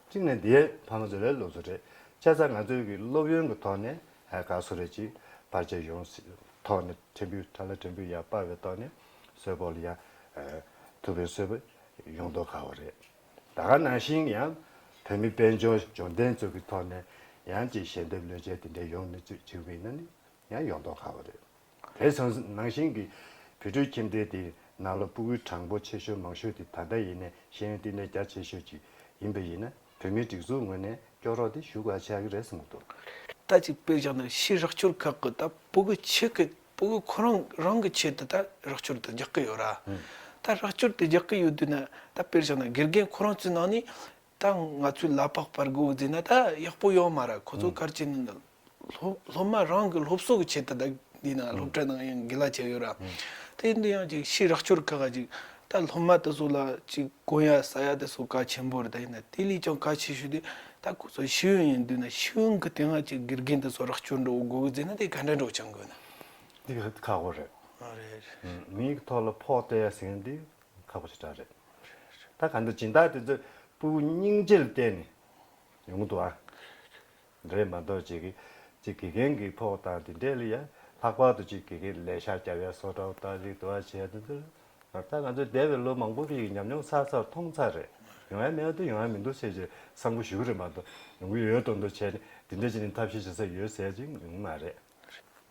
གཅིག་ནས་འདིའི་ཕ་མ་ཚོ་ལས་སློབ་གསོ་རེད་ཆ་ཚང་ང་ཚོའི་གི་སློབ་ཡོན་གི་ཐོག་ནས་དགའ་བསུ་རེད་ཅིག་བར་ཆད་ཡོང་སྲིད་ཐོག་ནས་ཕྲན་བུའི་ཁྲ་ལ་ཕྲན་བུའི་ཡར་སྤར་བའི་ཐོག་ནས་གསོལ་ཕོག་ལ་ཡང་ཐུབ་པའི་གསོལ་པ་ཡོང་དོག་དགའ་བོ་རེད་ད་ག་ནང་བཞིན་ཡང་བོད་མི་དཔལ་འབྱོར་འབྱོར་ལྡན་ཚོ་གི་ཐོག་ནས་ཡང་ཅིག་ཞལ་འདེབས་ལོས་བྱས་དེ་འདྲས་ཡོང་མི་ཚུད་ཅིག་བས་ན་ནི་ཡང་ཡོང་མདོག་ཁ་བ་རེད། དེར་སོང་ཟིན་ནང་བཞིན་གྱི་བུད་ཕྲུག་ཁྱིམ་སྡེ་དེའི་ནང་ལ་སྤུ་གུའི་གྲངས་འབོར་ཆེ་ཤོས་མང་ཤོས་དེ་ད་ལྟ་ཡིན་ནའི་ཤེས་ཡོན་བསྟི་གནས་རྒྱ་ཆེ་ཤོས་ཅིག་ཡིན་པས་ཡིན་ན་བོད་མིའི་སྒྲིག་འཛུགས་ངོས་ནས་སྐྱོ་རོགས་དེ་ཞུ་ག་བྱ་གི་རེད་གསུངས་འདུག། ད་ཅིག་དཔེ་བཞག་ན་ཕྱིའི་རོགས་སྐྱོར་ཁག་གི་ད་སྤུ་གུ་ཆེ་གི་སྤུ་གུ་ཁོ་རང་རང་གི་ཆེད་དུ་ད་རོགས་སྐྱོར་དེ་རྒྱག་གི་ཡོད་ར། ད་རོགས་སྐྱོར་དེ་རྒྱག་གི་ཡོད་དུས་ན་ད་དཔེར་བཞག་ན་དགེ་རྒན་ཁོ་རང་ཚོའི་ནང་ནས་ད་ང་ཚོའི་གླ་ཕོགས་པར་སྒུག་རྫི་ན་ད་ཡག་པོ་ཡོད་མ་རེད་ཁོ་ཚོ་སྐར་ཆེན་སློབ་མ་རང་གི་སློབ་གསོ་གི་ཆེད་དུ་ད་འདི་ན་སློབ་གྲྭ་ནང་ཡང་དགེ་ལ་བྱས་ཡོད་ར་དེ་འདི་ཡང་ཅིག་ཕྱིར་རག་སྐྱོར་ཁག་ག་ཅིག་ད་སློབ་མ་དེ་ཚོ་ལ་ཅིག་དགོན་ཡ་ས་ཡ་དེ་ཚོ་ག་ཆེན་པོ་རེད་ད་ཡིན་ན་དེ་ལས་ཀྱང་ག་ཆེ་ཤོས་དེ་ད་ཁོ་ཚོ་ཤེས་ཡོན་ཡིན་དུས་ན་ཤེས་ཡོན་གི་དེ་སྔ་ཅིག་དགེ་རྒན་དེ་ཚོ་རག་སྐྱོར་འགྲོ་འོ་སྒུག་རྫི་ན་དེ་ག་འདྲ་འགྲོ་ཆ་འགོད་ན། འདི་ཁག་པོ་རེད། རེད། མིའི་ཐོག་ལ་ཕོག་ཏེ་ཟིན་དུས་ཁག་པོ་ཞེ་དྲག་རེད། ད་ག་འདི་སྦྱིན་བདག་དེ་ཚོས་སྤུ་བོ་སྙིང་རྗེ་ལ་བལྟས་ནས་ཡོང་གི་འདུག་ཨ། རེད་མ་གཏོགས་ཅིག་གིས་ཅིག་དགེ་རྒན་གྱི་ཕོག་དང་དེ་འདྲས་ལ་ཡ། ལྷག་པར་དུ་ཅིག་དགེ་རྒན་ལས་ཤག་བརྒྱབ་ཡ་སོ་ཏྲའོ་ཏྲ་ཅིག་དུ་བ་བྱས་དེ་འདྲས། ད་ང་ཚོས་འདས་པའི་ལོ་མང་པོ་རིང་གི་ཉམས་མྱོང་ཚར་ཚར་མཐོང་ཚར་རེད། ཡོང་ཡ་མེད་དུ་ཡོང་ཡ་མི་འདུག་ཟེར་ཅིག་གསང་སྒོ་ཞུ་གི་རེད་མ་གཏོགས་ཡོང་གི་ཡོད་དོ་འདུག་བྱས་ནས་དེ་འདྲས་ཅིག་ནས་ཐབས་ཤེས་བྱེད་ས་ཡོད་ཟེར་ཅིག་ཡོང་གི་མ་རེད།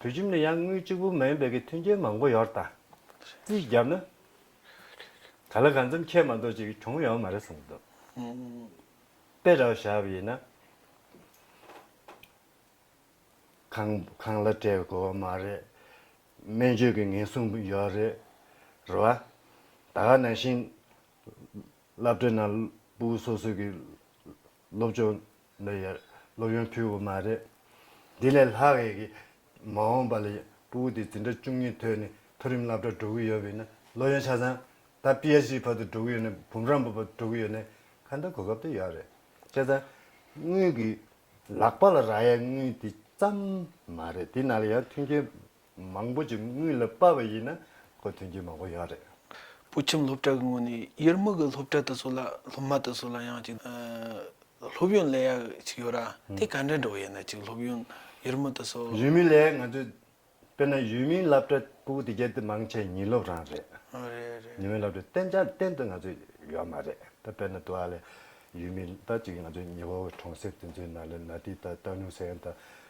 བོད་ཁྱིམ་ནི་ཡང་དངུལ་གཅིག་པུ་མ་ཡིན་པའི་གི་མཐུན་རྐྱེན་མང་པོ་ཡོད་དང། རྩིས་བརྒྱབ་ན། ག་ལ་གང་འཚམ་ཁྱད་མ་འདོག་ཅིག་གྱོང་ཡོང་མ་རེད་བསམ་གི་འདུག། དཔེ་ར་བ་བཞག་པ་ཡིན་ན། ཁང་ཁང་ལ་སྤྲད་དགོས་བ་མ་རེད། སྨན་བཅོས་ཀྱི་ངན་སོང་ཡོད་རེད། རེད་བ། ད་ག་ནང་བཞིན། བླ་བྲེ་ནང་སྤུ་གུ་སོ་སོ་གི། སློབ་སྦྱོང་འདི་ཡར་སློབ་ཡོན་ཕུལ་བ་མ་རེད། འདི་ལས་ལྷག་ཡས་ཀྱི་མ་འོངས་པ་ལ་ཡང་སྤུ་བོ་དེ་འཛིན་གྲྭ་བཅུ་གཉིས་ཐོན་ནས་མཐོ་རིམ་སླབ་གྲྭ་འགྲོ་གི་ཡོད་པས་ན་སློབ་ཡོན་ཆ་ཚང་ད PHD བར་དུ་འགྲོ་གི་ཡོད་ནས་བུམ་རམས་པ་བར་འགྲོ་གི་ཡོད་ནས་ཁ་འདོན་གོ་སྐབས་དེ་ཡོད་རེད་ཆ་ཚང་དངུལ་གྱི་ལག་པ་ལ་རག་ཡས་དངུལ་དེ་ཙམ་མ་རེད་དེ་ན་ལ་ཡང་མཐུན་རྐྱེན་མང་པོ་ཅིག་དངུལ་ལ་དཔའ་བ་ཡིན་ན་ཁོ་དོན་རྐྱེན་མང་པོ་ཡོད་རེད། བུ་ཁྱིམ་སློབ་གྲྭ་གི་ངོས་ནས་དབྱེར་མེད་ཀྱི་སློབ་གྲྭ་དེ་ཚོ་ལ་སློབ་མ་དེ་ཚོ་ལ་ཡང་ཅིག་སློབ་ཡོན་ལེན་ཡག་ཅིག་ཡོད་ར་དེ་ག་འདྲ་འགྲོ་བ་ཡིན་ན་ཅིག་སློབ་ཡོན་དབྱེར་མེད་དེ་ཚོ། ཡུལ་མི་ལས་ང་ཚོས་དཔེར་ན་ཡུལ་མིའི་སླབ་གྲྭ་པུའུ་དེ་གལ་ཏེ་མང་ཆེ་ཉིན་སློབ་རང་རེད། རེད་རེད། ཉིན་མོའི་སླབ་གྲྭ་གཏན་འཇགས་གཏན་དུ་ང་ཚོས་ཡོད་མ་རེད་ད་དཔེར་ན་དུ་ཨ་ལེ་ཡུལ་མི་ད་ཅིག་ང་ཚོས་ཉི་ཧོ་བའི་གྲོང་གསེབ་དེ་ཚོའི་ནང་ལ་ན་ཏི་ད་ཏའོ་ནུའུ་སན་ད།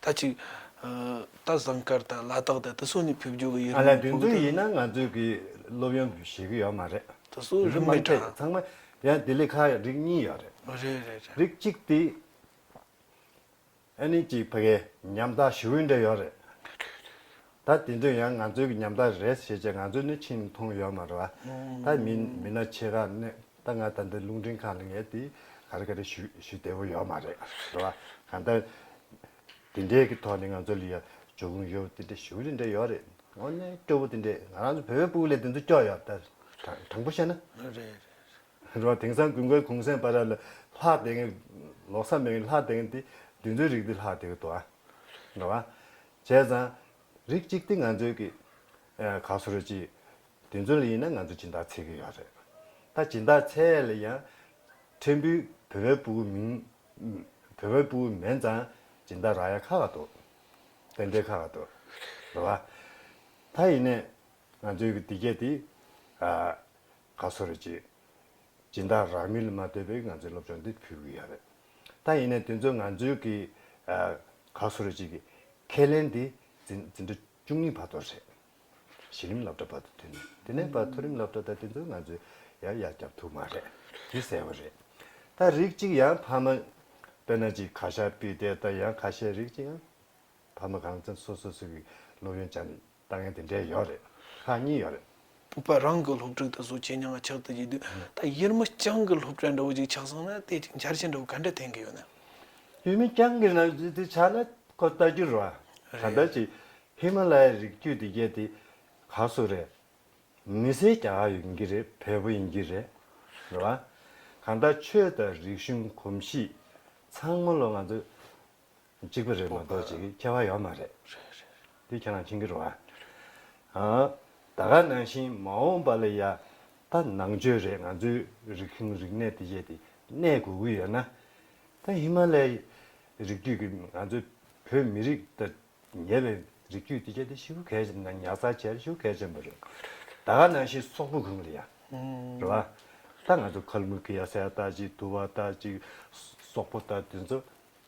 ད་ཅིག། རྟ་བཟང་དཀར་དང་ལ་དྭགས་དང་དེ་སོགས་ནས་ཕེབས་འབྱོར་གྱི་ཡུལ་ལུང་ལ་ཕེབས་ཀྱི་ཡིན་ན་ང་ཚོས་གི་སློབ་ཡོན་བཞེས་གི་ཡོད་མ་རེད། དེ་སོགས་རིམ་མེད་གྲགས། ཚང་མ་ཡང་དེ་ལས་ཁ་རིགས་གཉིས་ཡོད་རེད། རེད་རེད་རེད། རིགས་གཅིག་དེ། ཨ་ནི་ཅིག་ཕ་གའི་ཉམ་ཐག་ཞི་བོའི་འདྲེ་ཡོད་རེད། རེད་རེད་རེད། ད་དེ་དུས་ཡང་ང་ཚོའི་གི་ཉམ་ཐག་རེད་ཞེས་བྱས་ང་ཚོས་ནི་ཕྱིན་མཐོང་ཡོད་མ་རེད་བ། ད་མི་མི་སྣ་ཆེ་ཁག་ནས་ད་ང་ད་འདི་རླུང་འཕྲིན་ཁང་ལ་ངས་དེ་ག་རེ་ག་རེ་ཞུ་ཞུ་བདེ་བོ་ཡོད་མ་རེད་བ། གང་ལྟར་དེ་འདྲའི་གི་ཐོག་ནས་ང་ཚོ་ལ་ཡང་འབྱུང་ཁུངས་ཡོད་དེ་འདྲའི་ཞུ་དེ་འདྲའི་ཡོད་རེད། དངོས་གནས་སྐྱོ་བོ་དེ་འདྲའི་ང་རང་ཚོ་བོད་པའི་སྤུག་ལས་དེ་ཚོ་སྐྱོ་ཡོད་ད་དྲང་དྲང་པོ་བཤད་ན། རེད་རེད་རེད། རེད་བ། དེང་སང་དགུན་ཁའི་གུང་སེང་པ་ར་ལ་ལྷག་དེ་གིན་ལོག་ས་མེད་གིན་ལྷག་དེ་གིན་དེ་དུས་ཚོད་རིག་དེ་ལྷག་དེ་གི་དོ་ཨ། རེད་བ། བྱས་ཙང། རིགས་གཅིག་དེ་ང་ཚོའི་གི། ག་སོ་རུ་གྱིས། དེ་ཚོ་ལ་ཡིན་ན་ང་ཚོ་སྦྱིན་བདག་འཚལ་གི་ཡོད་རེད། ད་སྦྱིན་བདག་འཚལ་ལ་ཡང། ཕྲན་བུ་བོད་པའི་པུའུ་མིན། བོད་པའི་པུའུ་མེན་ཙང་སྦྱིན་བདག་ར་ཡ་ཁ་ག་འདུག། རྟེན་འབྲེལ་ཁ་ག་འདུག། རེད་བ། ད་ཡིན་ནས། ང་ཚོའི་གི་འདི་གས་དེ། ག་སོ་རུ་གྱིས། སྦྱིན་བདག་རག་མི་ལ་མ་ལྟོས་པའི་ང་ཚོའི་སློབ་སྦྱོང་འདི་ཕུལ་གི་ཡོད་རེད། ད་ཡིན་ནས་དེ་ཚོས་ང་ཚོའི་གི་ག་སུ་ར་ཅིག་གི་ཁས་ལེན་དེ་འཛིན་གྲྭ་བཅུ་གཉིས་བར་དོར་ཞེས་གཞི་རིམ་སློབ་གྲྭ་བར་དུ་མཐུན་ནས་དེ་ནས་བར་མཐོ་རིམ་སློབ་གྲྭ་དང་དེ་ཚོས་ང་ཚོས་ཡར་ཡར་བསྐྱབས་ཐུབ་མ་རེད་དེ་གསལ་བོ་རེད། ད་རིགས་གཅིག་ཡང་ཕ་མ་དཔེར་ན་ཅིག་ག་ཤ་པི་ཏའི་ད་ཡང་ཁ་ཤས་རིགས་གཅིག་ཡང་ཕ་མ་གང་ཚན་སོ་སོ་སོ་གི་སློབ་ཡོན་བྱ་ནས་ལྟ་ངན་དེ་འདྲའི་ཡོད་རེད་ཧ་གཉིས་ཡོད་རེད། བུ་པ་རང་གི་སློབ་ཕྲུག་དེ་བཟོ་བྱེད་ཉག་ག་ཆག་དུ་བགྱིད་དུས་ད་དབྱེར་མི་རྐྱང་གི་སློབ་གྲྭ་འདྲ་བོ་ཅིག་ཆག་སོང་ན་ལྟས་ཅིག་འཆར་ཅན་འདྲ་བོ་ག་འདྲ་འཐེན་གི་ཡོད་ན། དབྱེར་མི་རྐྱང་གི་ནང་བགྱིད་དུས་ཆག་ན་ཁོ་ལྟ་རྒྱུར་རོ། གང་ལྟར་ཅིག་ཧི་མ་ལ་ཡའི་རིགས་རྒྱུད་དེ་བརྒྱད་དེ་ག་སུ་རེད། མི་སེར་གྱ་ག་ཡོད་གྱི་རེད་བལ་པོ་ཡིན་གྱི་རེད་རེད་བ། གང་ལྟར་ཆོས་དང་རིག་གཞུང་གོམས་གཤིས་ཚང་མ་ལོ་ང་ཚོ་གཅིག་པུ་རེད་མ་གཏོགས་ཅིག་ཁྱད་པར་ཡོད་མ་རེད། དེ་ཁྱེད་རང་མཁྱེན་གྱི་རོ། ད་ག་ནང་བཞིན་མ་འོངས་པ་ལ་ཡ་ད་ནང་ཆོས་རེད་ང་ཚོའི་རིག་གཞུང་རིག་གནས་དེ་བཞེས་ཏེ་གནས་དགོས་ཀྱི་ཡོད་ན། ད་ཧི་མ་ལའི་རིགས་རྒྱུད་ཀྱི་ང་ཚོའི་བོད་མི་རིགས་དང་ཉེ་བའི་རིགས་རྒྱུད་དེ་བཞེས་ཏེ་ཤི་བོ་གལ་ཆེན་ན་ཉག་ཚ་བྱས་ན་ཤི་བོ་གལ་ཆེན་པོ་རེད། ད་ག་ནང་བཞིན་སོག་པོ་གུང་ལ་ཡ་རེད་བ། ད་ང་ཚོ་ཁལ་མུ་ཁི་ཡ་སའི་ད་ཅིག་དུ་བ་ད་ཅིག་སོག་པོ་ད་དེ་ཚོ།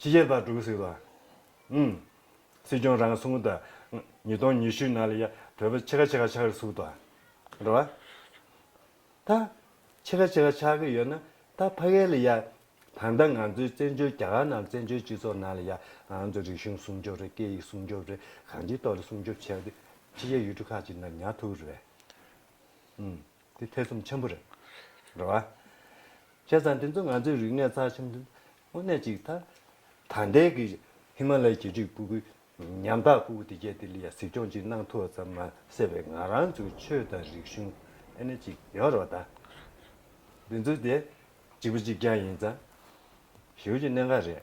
ཕྱི་རྒྱལ་བར་དྲུག་ཟིག་ལ། ཨུམ། སྲིད་སྐྱོང་རང་སྲུང་བརྡ། ཉིས་སྟོང་ཉི་ཤུའི་ནང་ལ་ཡ། བོད་པ་ཕྱེད་ཀ་ཕྱེད་ཀ་ཆགས་རེ་ཟུག་ད། འགྲོ་བ། ད། ཕྱེད་ཀ་ཕྱེད་ཀ་ཆགས་ཀྱི་ཡོད་ན། ད་ཕ་གས་ལ་ཡ། ད་ལྟ་ང་ཚོའི་བཙན་བྱོལ་རྒྱ་གར་ནང་བཙན་བྱོལ་སྤྱི་ཚོགས་ནང་ལ་ཡ། ང་ཚོ་རིག་གཞུང་སྲུང་སྐྱོབ་རེད་སྐད་ཡིག་སྲུང་སྐྱོབ་རེད་གང་ཅིའི་ཐོག་ལ་སྲུང་སྐྱོབ་བྱས་ཏེ། ཕྱི་རྒྱལ་ཡུལ་གྲུ་ཁག་ཅིག་ནང་ཉར་ཐུབ་རེད། ཨུམ། འདི་ཐེ་ཚོམ་ཆེན་པོ་རེད། རེད་བ། ཁྱེད་ཚང་འདི་ཚོ་ང་ཚོའི་རིག་གནས་རྩ་ཆེན་དངོས་གནས་ཅིག་ད། ད་ལྟའི་གི་ཧི་མ་ལའི་གྱེས་འཁྲིག་སྤུ་གུ་ཉམ་ཐག་སྤུ་གུ་དེ་རྒྱས་དེ་ལ་ཡང་གཟིགས་སྐྱོང་ཅིག་གནང་ཐུབ་བ་ཙམ་མ་ཟེར་བའི་ང་རང་ཚོའི་ཆོས་དང་རིག་གཞུང་ཨེ་ནི་ཅིག་ཡོད་རོགས་ད། འདི་ཚོ་དེ་གཅིག་པུ་གཅིག་རྐྱང་ཡིན་ཙང། ཞེའུ་ཅིག་གནད་འགག་རེད།